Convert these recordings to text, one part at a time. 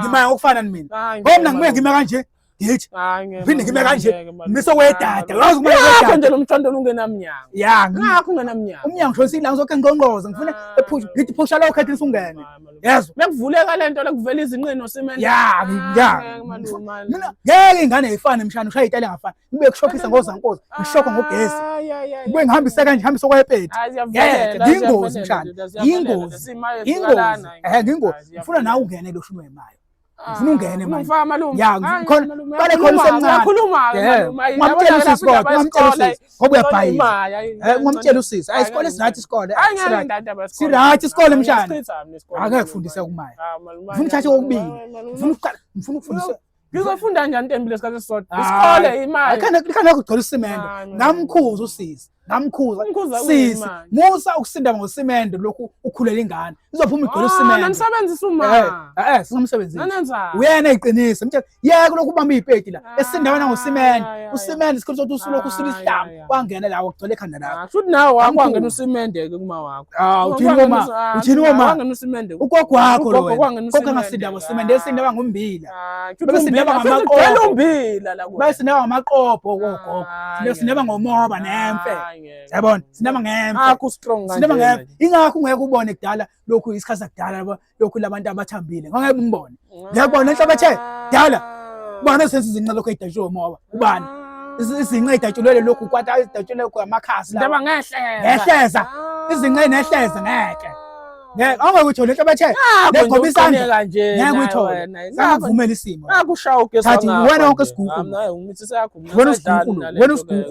ngimaya ngokufana mina ngoba mina ngibuye ngime kanje ngithi phinde ngime kanje ngise wedada wazi uma ngakho nje lomthondo ungenamnyango ya ngakho ungenamnyango umnyango shonsi la ngizokhe ngqongqoza ngifuna ah. ephusha ngithi phusha lo khethe sungene yezwa bekuvuleka lento lokuvela izinqino simene ya ah, ya mina ngeke ingane ifane mshana ushaya itali ngafana ngibe kushokhisa ngozankosi ngishokho ngogesi ngibe ngihambisa kanje ngihambisa okwayepeti ngiyingozi mshana yingozi yingozi ehe ngingozi ngifuna nawe ungene lo shuni wemayo ngifuna ungene manje ya khona bale khona usemncane ungamtshela usisi kodwa ungamtshela usisi ngoba uyabhayisa ungamtshela usisi ayi isikole sirathi isikole sirathi isikole mshana akekufundisa kumaya ngifuna uthathe kokubili ngifuna ukufundisa ngizofunda njani ntembile isikhathi esisodwa Hayi. isikole imali khana kugcwela usimende Hayi, mina. namkhuza usisi namkhuza Umkhuza sisi uyimali. musa ukusinda ngosimende lokhu ukhulela ingane izophuma igcwele Ah, usimende nanisebenzisa Eh, uma eh, eh, singamsebenzisi nanenzani uyena iqiniso mtshela yeke lokhu ubamba iy'peti la Hayi, esindawana ngosimende hayi, hayi. usimende isikhathi sokuthi usulokhu usula Hayi, isihlamba hayi. kwangena la wagcwele ekhanda lakho ah, shuthi nawe wakwangena usimende ke kuma wakho ah uthini uma ah, uthini uma wangena usimende ugogo wakho lo gogo ngasinda ngosimende esinda bangumbila ah, bese sinda ngamaqobo umbila la bese sinda ngamaqobo gogo sinda sinda ngomoba nemfe yabona sinda ngemfe akho strong kanje sinda ngemfe ingakho ungeke ubone kudala lokhu isikhathi sakudala yabona lokhu labantu abathambile ngeke umbone ngiyakubona inhlabathi dala ubani osenza izinqa lokho edatshulwe umoba ubani ah. izinqa edatshulwele lokhu kwata edatshulwe lokhu amakhasi lawa ngehleza ngehleza ah. izinqa nehleza ngeke ngeke awungeke uthole inhlabathi legoba isandla kanje ngeke uthole ngakuvumela isimo ngakushaya ugesi ngathi wena wonke isigugu wena isigugu wena isigugu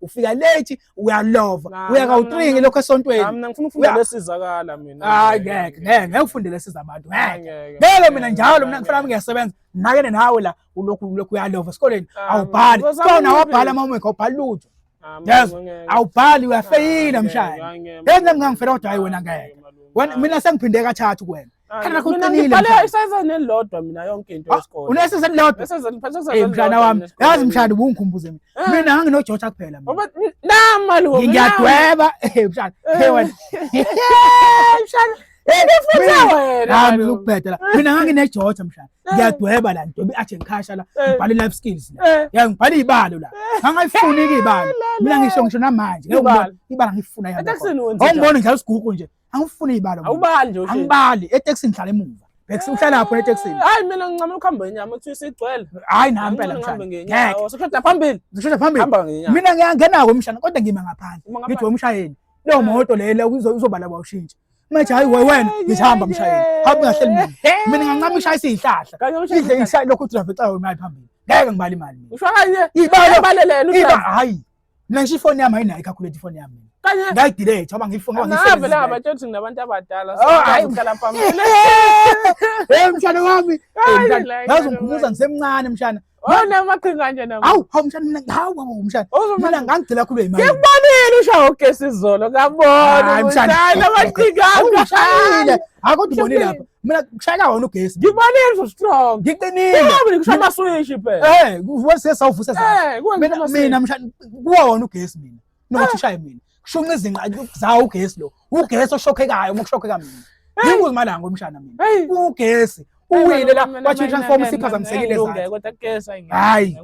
ufika late uyalova Nah, uya nah, nah, kawutringi nah. lokho esontweni Nami ngifuna Uya- ukufunda lesizakala mina. hayi ngeke ngeke ngeke ufundele siza abantu ngeke Ngeke. ngeke mina njalo mina ngifuna ngiyasebenza nakene nawe la ulokhu ulokhu uyalova esikoleni Ah, awubhali ngizozama kona ukuphi? wabhala mama wekho awubhali lutho Yes, awubhali uyafeyila mshaya Yenza mina ngifela kodwa hayi wena ngeke Wena- mina sengiphinde kathathu kuwena Kana kuqinile. Ngibhale isizini elilodwa mina yonke into ah, yesikole. Unesizini elilodwa. Isizini ngiphethe isizini. Eh, mshana wami. Yazi mshana ubungikhumbuze mina. Eh. Mina ngangino George kuphela mina. Nama lo. Ngiyadweba. Eh mshana. Hey eh. wena. Mshana. Ngifutha wena. Hayi ngizokubhedela. Mina ngangine George mshana. Ngiyadweba la nto athi ngikhasha la. Ngibhale life skills la. Ya ngibhale ibalo la. Ngangayifuni ke ibalo. Mina ngisho ngisho namanje. Ngeke ibalo ngifuna yami. Ngibona njalo isigugu nje. angifune ibalo awubali nje angibali eTexin ngihlala emuva Bhekisi eh, uhlala lapho eTexin hayi mina ngincama ukuhamba ngenyama uthi sigcwele hayi nami phela ngihambe ngenyama usukhetha phambili usukhetha phambili mina ngiyangena ko mshana kodwa ngima ngaphandle ngithi wemshayeli leyo eh. moto leyo uzobala bawushintsha manje hayi wena ngihamba mshayeli hamba ungahleli mina mina ngincama ishaya isihlahla idle ishaya lokho udrave xa wemali phambili ngeke ngibali imali usho kanye ibalo balelena hayi Mina ngisho ifoni yami ayinayo i-calculate ifoni yami. Ngayidelete ngoba ngiyifuna ngoba ngiyisebenzisa. Ngavele hamba tsho ukuthi nginabantu abadala so oh, hayi ngihlala phambili. Hey mshana wami. Ngazi ngikhumuza ngisemncane mshana. Wona oh, amaqhinga kanje nami. Hawu, hawu mshana mina hawu hawu mshana. Oh, mina ngangigcela khulu imali. Ngikubonile usha ugesi izolo ngabona. Hayi mshana. Amaqhinga. Hawu mshana. Akho ndibonile lapha. mina kushayela wona ugesi ngikubalile so strong ngiqinile mina kushaya amaswish phela eh wase sawuvuse eh, mina mina mshana kuwa wona ugesi mina nokuthi ah. ushaye mina kushunqa izinqa zawo ugesi lo ugesi oshokhekayo uma kushokheka mina yingu imalanga omshana mina ugesi uwile la wathi transform siphazamisekile zayo hayi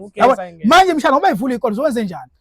manje mshana uma ivula ikolo zowenze njani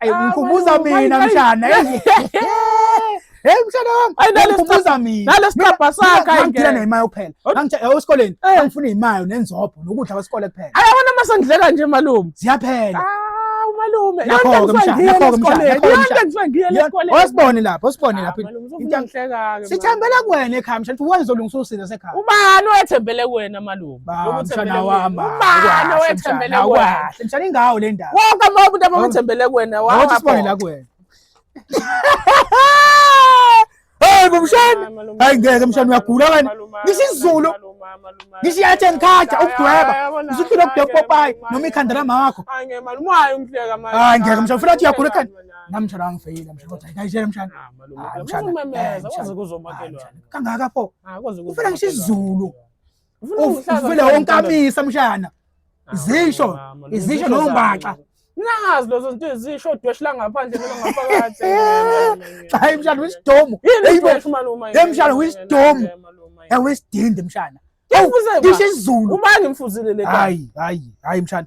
Ayi ah, ngikhumbuza mina mshana. Hey mshana wami. Ayi nalesikhumbuza mina. Nalesicabha sakhe ayike. Ngithina nemayo kuphela. Angithe eh, esikoleni eh. angifuna imayo nenzopho nokudla kwesikole kuphela. Ayi wona masandleka nje malume. Ziyaphela. Ah umalume. Yakho ke mshana. Yakho ke mshana. Yakho ke mshana. Osibone lapho, osibone lapho. Into angihleka ke. Sithembele kuwena ekhaya mshana. Uwenzolungisa usizo sekhaya. Ubani oyethembele kuwena malume? mshana wami ubani owethembele kuwena mshana ingawo le ndawo wonke amababa umuntu abamethembele kuwena wathi sibone la kuwena Hey bomshana hayi ngeke mshana uyagula wena ngisizulu ngisho yathi ngikhaja ukudweba usuphila ukudweba popayi noma ikhanda lamama wakho hayi ngeke mshana ufuna athi uyagula ekhanda namtshana angifeyile mshana kodwa ngayitshela mshana ah, ah, kangaka pho ufuna ngisho izulu ufuna wonkamisa mshana izisho izisho nombaxa nazi lezo zinto ezisho udweshi langaphandle noma ngaphakathi cha hey mshana wisidomu hey malume hey mshana wisidomu hey wisidinde mshana ngisho isizulu ubani mfuzile le hayi hayi hayi mshana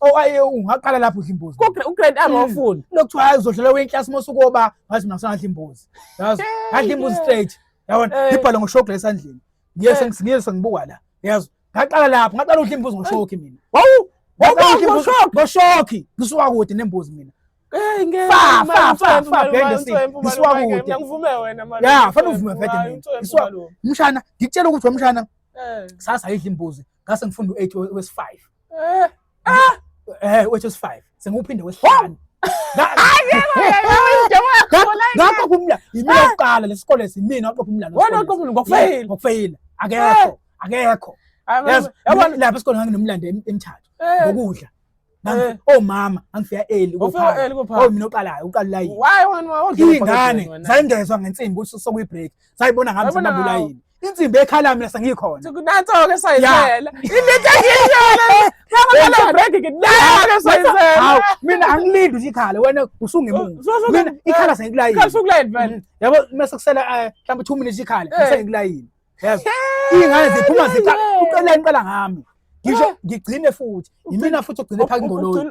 Oh aye ungaqala lapho udla imbuzi. Ku u grade R wafunda. Hmm. Lokuthiwa hayi uzodlala we class mose ukoba ngathi mina ngisangadla imbuzi. Yazi? Ngadla imbuzi straight. Yabona? Eh. Ngibhala ngoshokla esandleni. Ngiye eh. sengisingiye sengibuka la. Yazi? Ngaqala lapho, ngaqala udla imbuzi ngoshokhi mina. Wawu! Wawu ngoshokhi. Ngoshokhi. Ngisuka kude nembuzi mina. Hey ngeke. Fa fa fa fa bheke si. Ngisuka kude. Ngivume wena manje. Ya, fanele uvume vete mina. Ngisuka. Mshana, ngikutshela ukuthi wemshana. Eh. Sasa idla imbuzi. Ngase ngifunda u8 wes5. Eh, ah! Eh, which is five. Sengiwuphinde wesihlanu. Ngakho kumla yimina kuqala lesikole simina waqopha umlando. Wona waqopha ngokufeyila. Ngokufeyila. Akekho. Akekho. Yabona lapha esikoleni nganginomlando emithathu. Ngokudla. Eh. omama oh, angifika eli oh, mina oqalayo uqalula yini ingane zayingezwa ngensimbi ukuthi sokuyi-break zayibona ngami zimabula yini insimbi ekhala mina sengikhona kunathoke sayizela into engiyiyona ngakhala break ngidlala sayizela hawu mina angilindi ukuthi ikhala wena usungemuva mina ikhala sengikulayini ikhala sengikulayini vele mm-hmm. yabo mase kusela eh, mhlawumbe 2 minutes ikhala eh. sengikulayini yazi ingane ziphuma zikhala uqela inqala ngami ngisho ngigcine futhi yimina futhi ogcine phaka ingoloyi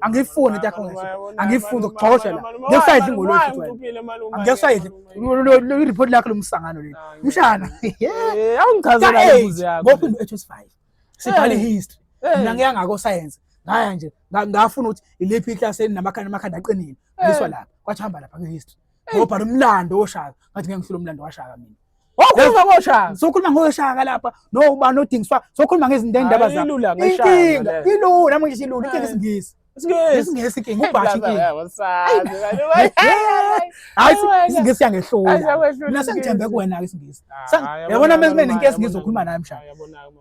angiyifuni into yakho angiyifuni ukugxoshela ngeke usayidla ingolo ngeke usayidla ireport lakho lomsangano leli mshana eh, awungichazela imibuzo yakho ngoba into ethu sifayo sibhala eh. history eh. mina ngiya ngako science ngaya nje ngafuna ukuthi ilephi iclass enamakhanda amakhanda aqinile ngiswa lapha kwathi hamba lapha ngehistory ngobhala umlando woshaka ngathi ngeke ngihlule umlando washaka mina Okhuluma ngoshaka. Sokhuluma ngoshaka lapha. No ubani odingiswa. Sokhuluma ngezinto endaba zakho. Ilula ngeshaka. Inkinga ilula manje silula inkinga isingisi. Isingisi inkinga ubhathi inkinga. Hayi isingisi yangehlula. Mina sengithembe kuwena ke isingisi. Yabona mase mina inkinga isingisi okhuluma naye mshana.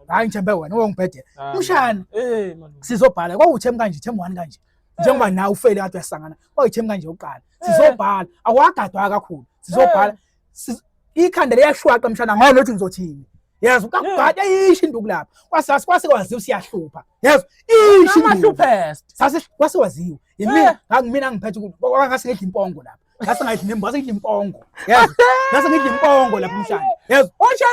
Hayi ngithembe wena ungibhede. Mshana. Eh man. Sizobhala kwawuthem kanje them one kanje. Njengoba nawe ufele kade uyasangana. Kwawuthem kanje uqala. Sizobhala. Awagadwa kakhulu. Sizobhala. ikhanda liyashwaqa mshana ngayo nothi ngizothini yazi kakugade ishi induku lapha kwasasi kwase kwaziwa siyahlupha yazi ishi amahluphest sase kwase waziwa yimi eh. ngangimina ngiphethe ukuthi ngase ngidla impongo lapha ngase ngidla nembo ngase ngidla impongo yazi ngase ngidla impongo lapha umshana yazi osha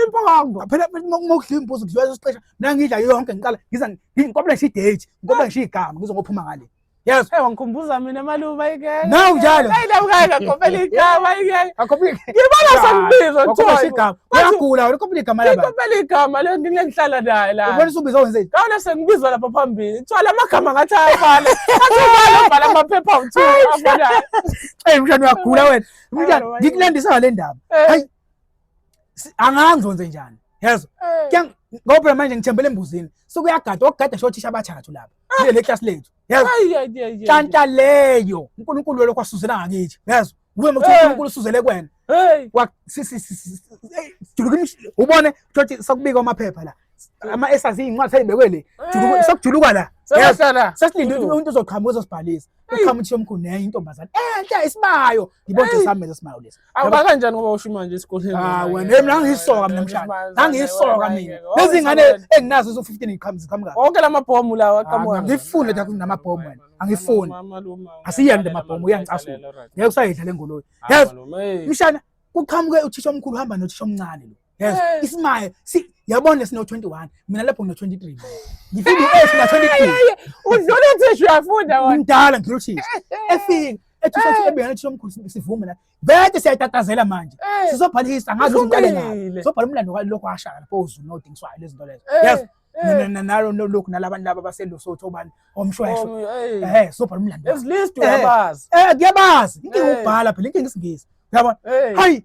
impongo phela uma udla imbuzi kudliwa isixesha mina ngidla yonke ngiqala ngiza ngikopela ngisho idate ngikopela ngisho igama ngizokuphuma ngale Yes. Hey, wangikhumbuza mina malume ayike. Na unjalo. Hey, la ukaka kopela igama ayike. Akopile. Ngibona sangibizwa Thoy. Akopile igama. Uyagula, ukopile igama la baba. Ukopile igama le ngike ngihlala naye la. Ubona usubiza wenzeni? Kawona sengibizwa lapha phambili. Kuthiwa la magama ngathi ayafana. Athi ubala ubhala amaphepha uthu afana. Hey, mshana uyagula wena. Mshana ngikulandisa ngale ndaba. Eh. Hayi. Anganzo nze njani? Yazi. Eh. Ngoba manje ngithembele embuzini. Sokuyagada, okugada shothisha abathathu lapha. Yile le class lethu. Yebo. Tshanta leyo. uNkulunkulu lokho asuzela ngakithi. Yezwa. Kuwe motho uNkulunkulu usuzele kwena. Hey. Wa sisi sisi. Juluka imishilo. Ubone ukuthi sakubika amaphepha la. Ama esazi incwadi seyibekwe le. Juluka sakujuluka la. Sesala. Sesilinde ukuthi umuntu uzoqhamuka uzosibhalisa. Uqhamuthi yomkhulu nenye intombazana. Enhle isibayo. Ngibonje sami lesimayo lesi. Awuba kanjani ngoba usho imanje esikoleni? Ah wena mina ngiyisoka mina mshana. Nangiyisoka mina. Lezi ngane enginazo zo 15 iqhamuka iqhamuka. Wonke lamabhomu lawa aqhamuka. Ah, ngifuni nje ukuthi namabhomu wena. Angifuni. Asiyande amabhomu uyangicasula. Ngeke usayidla lengoloyi. Yazi mshana kuqhamuke uthisha omkhulu hamba nothisha omncane lo. Yes, eh. isimaya si yabona sino 21 mina lapho ngino 23 ngifika u8 na 23 udlula thishu uyafunda wona ngidala ngidlula thishu efika ethi sathi eh. ebeyana thishu omkhulu sivume la bese siyatatazela manje eh. sizobhala history ngazi ukuthi uqale ngaphi sizobhala umlando kwalokho ashaya lapho uzu no dingiswa lezi zinto lezo yes mina nalo lokhu nalabantu laba baselosotho obani omshweshwe eh sobhala umlando ezilist uyabazi eh kuyabazi inkinga ubhala phela inkinga isingisi yabona hayi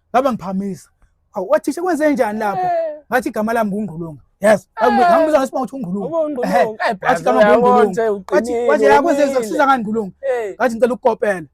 ngaba ngiphamisa awu wathisha kwenze njani lapho eh. ngathi igama lami ngungqulunga yes ngangibuza eh. ngesibanga ukuthi ungqulunga eh, wathi igama ngungqulunga wathi wathi yakwenze kusiza ngani ngqulunga ngathi ngicela ukukopela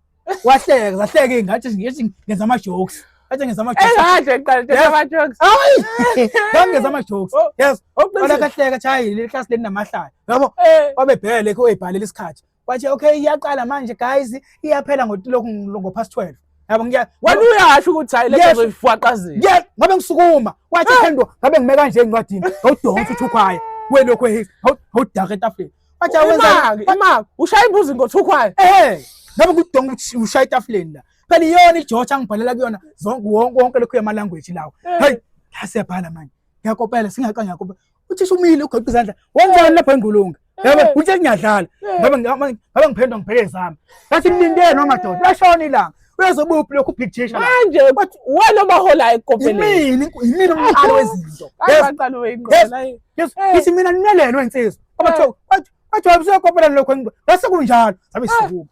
wahleka zahleka ingathi ngithi ngenza ama jokes athi ngenza ama jokes engathi ngiqala ngenza ama jokes hayi ngenza ama jokes oh, yes oqala oh, kahleka chayi le class leni namahlaya yabo wabebhele ke uyibhalela isikhathi wathi okay iyaqala manje guys iyaphela ngotilokhu ngo past 12 yabo ngiya wena uyasho ukuthi hayi lento zoyifwaqazela yes ngabe ngisukuma wathi ah! phendwa ngabe ngime kanje encwadini ngawudonsa uthukhwaye welokhu ehis ngawudaka etafuleni wathi awenza imali ushaya imbuzi ngothukhwaye eh ngabe kudonga ukuthi ushaya etafuleni la phela iyona ijotsha angibhalela kuyona zonke wonke lokhu yama language lawo hey lasebhala manje ngiyakopela singaqanga ngiyakopela uthi sumile ugoqa izandla wenzani lapha engulunga yabo uthi ngiyadlala ngabe ngabe ngiphendwa ngibheke zami ngathi mlindele noma doda lashona ilanga uyazobuphi lokhu big teacher manje bathi wena obaholayo ekopeleni yimini yimini umqalo wezinto ayibaqalo weyingqola yithi mina ninelelo insizwa abathiwa bathiwa busekopeleni lokho bese kunjalo sabe sibuka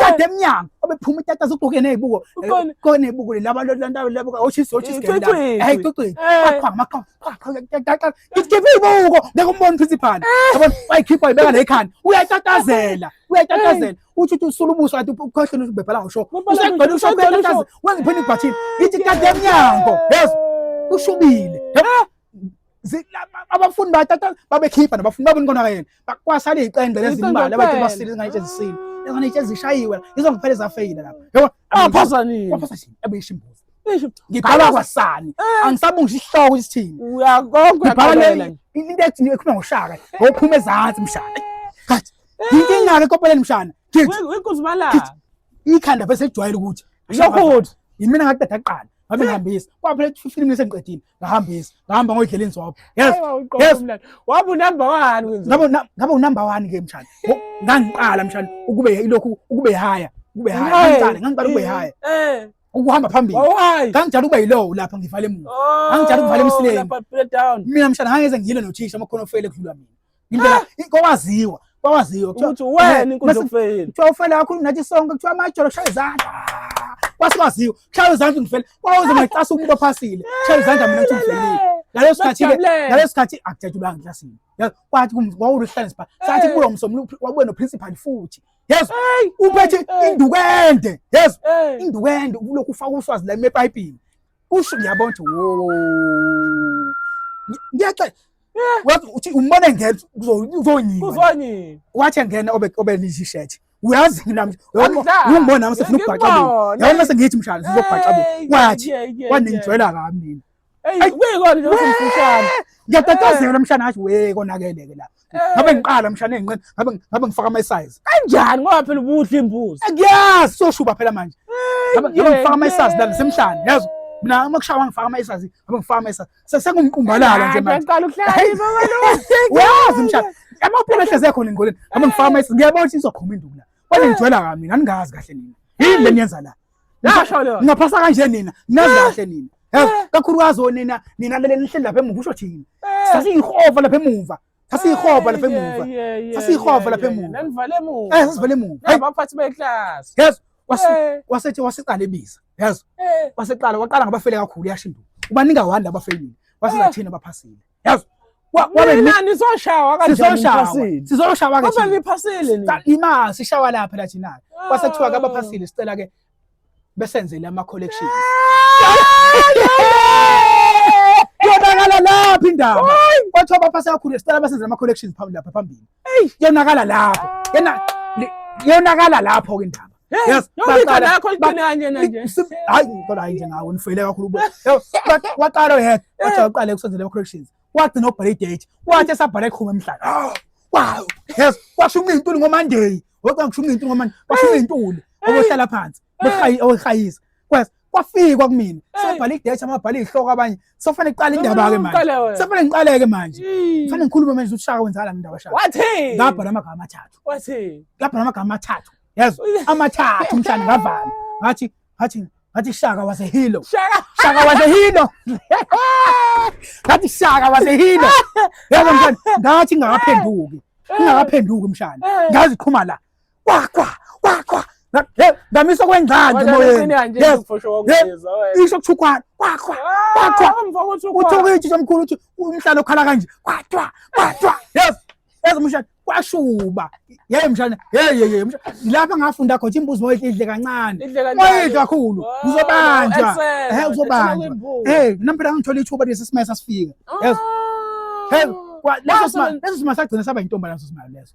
kade emnyango obephuma itata zogqoke nezibuko ko nezibuko laba laba laba oshisi oshisi kenda hey tuqi akwa makwa ngikhiphe ibuko ngeke umbone principal yabona wayikhipha ibeka la ekhanda uyatatazela uyatatazela uthi uthi usula ubuso athi ukhohlwe ukuthi ubebhala usho usengcela usho uyatatazela wengiphini ibhathini ngithi kade emnyango yes ushubile abafundi batata babekhipha nabafundi babona kona yena bakwasala iqende lezimbali abathi basile ngayitshe zisile ngane itshe zishayiwe yizo kuphele zafeyila lapha yebo aphazanini aphazanini abeyisha imbuzi ngibhala kwasani eh. angisabungisha isihloko ukuthi sithini uyakonke ngibhala le into ethi ekhuluma ngoshaka ngophuma ezansi mshana kathi eh. yinkinga ke kopeleni mshana ngithi wenkuzi bala ikhanda bese ejwayele ukuthi lokho yimina ngadada kuqala babengihambisa kwaphela 15 minutes engiqedile ngahambisa ngahamba ngoyidlela inzobo yes yes wabe unumber 1 ngabo ngabo unumber 1 ke mshana ngangiqala mshana ukube ilokhu ukube haya ukube haya ngangiqala ngangiqala ukube haya eh ukuhamba phambili ngangijala ukuba yilowo lapha ngivale emuva oh, ngangijala ukuvala emsileni mina mshana ngangeze ngiyile nothisha amakhono ofele kudlula mina ngindlela ah! kwawaziwa kwawaziwa ukuthi wena inkundla yokufeyini kuthiwa ufele kakhulu nathi sonke kuthiwa amajolo kushaya izandla kwasibaziwa kushaya izandla ngifele kwawuze ngacasa umuntu ophasile kushaya izandla mina ngithi ngifelile ngaleso sikhathi ngaleso sikhathi akujatshulanga eklasini kwathi wawuluhlane sipha sathi kulo msombululo wabuye noprincipal futhi yezo uphethe induku ende yezo induku ende ulokhu ufaka uswazi la emepayipini kusho ngiyabona ukuthi wo ngiyaxa eh. wathi uthi umbone ngeke uzonyini uzonyini wathi engena obe obe liji shirt uyazi mina ungibona nami sefuna ukubhaxa bo yabona mase ngithi mshana sizobhaxa bo wathi waningijwela kabi mina hey wekona nje usimfushana ngiyatatazela mshana athi we konakeleke la ngabe eh. ngiqala mshana enqini ngabe ngabe ngifaka ama size kanjani ngoba phela ubudla imbuzi ngiyazi soshuba phela manje eh, ngabe ngifaka ama size la semhlanje yazi mina uma kushawa ngifaka ama size ngabe ngifaka ama size sesengumqumbalala nje manje ngicela ukuhlala baba lo uyazi mshana amaphela ehleze khona engoleni ngabe ngifaka ama size ngiyabona ukuthi izoqhuma induku la wena ngijwela kami mina ningazi kahle nina yini le niyenza la Ngaphasa kanje nina, nazi ah. kahle nina. Eh. Kakhulukazi onina, nina lele nihleli lapha emuva usho thina. Eh. Sasiyihova lapha emuva. Sasiyihova lapha emuva. Sasiyihova lapha emuva. Nanivale emuva. Eh, sasivale emuva. Abaphathi beclass. Yes. Eh. Wasethi wasiqala ebiza. Yes. Waseqala waqala ngabafele kakhulu yashinduka. Ubaninga wanda abafelile. Wasizathina abaphasile. yazi imali sishawa lapha la thina kwase kuthiwa kabaphasile sicela ke besenzele ama collections yonakala lapha indaba kwathiwa baphase kakhulu sicela besenzele ama collections phambili lapha phambili Hey, yonakala lapho. Yena yonakala lapho ke indaba. Yes, baqala nakho iqinanye nje. Hayi, kodwa hayi nje ngawo nifeyile kakhulu bo. Waqala yena, wathi uqale kusenzele ama corrections. Wathi no break date, wathi esabhala ikhuma emhlanje. Ah, wow. Yes, washo umintuli ngoManday. Wathi ngisho umintuli ngoManday. Washo umintuli. Obohlala phansi. Bekhaya, okhayisa. kwes kwafikwa kumina sobhala idesha amabhala izihloko abanye sofanele kuqala indaba ke manje sofanele ngiqaleke manje kufanele ngikhulume manje ushaka wenzala indaba shaka wathi ngabhala amagama amathathu wathi ngabhala amagama amathathu yazi amathathu mhlanje ngavala ngathi ngathi ngathi shaka was a hero shaka shaka was a hero ngathi shaka was a hero yazi mhlanje ngathi ngakaphenduki ngakaphenduki mhlanje ngaziqhuma la kwakwa kwakwa ndamisa kwengcandi moyeni isho kuthukwana kwakwa kwakwa uthi ukuyitshisa omkhulu uthi umhlalo okhala kanje kwatwa kwatwa yes yes mshana kwashuba yeye mshana yeye yeye mshana lapha ngafunda khona imbuzi moyo idle kancane moyo kakhulu uzobanjwa eh uzobanjwa eh nampela ngithola ithuba lesi simese sifika yes ah. hey leso simali leso simali sagcina saba intombi leso simali leso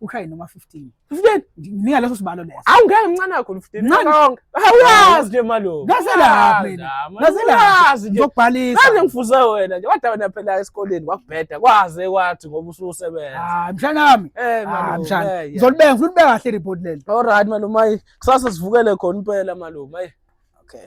ushaye noma 15 15 nginika leso sibalo leso awu ngeke mncane kakhulu 15 mncane awuyazi nje malo ngaselapha mina ngaselapha ngizokubhalisa manje ngifuze wena nje wadawa na phela esikoleni kwakubheda kwaze kwathi ngoba ususebenza ah mshana wami eh malo ah, mshana ngizolibeka ngifuna ubeka kahle report leli all right malo mayi kusasa sivukele khona impela malo mayi okay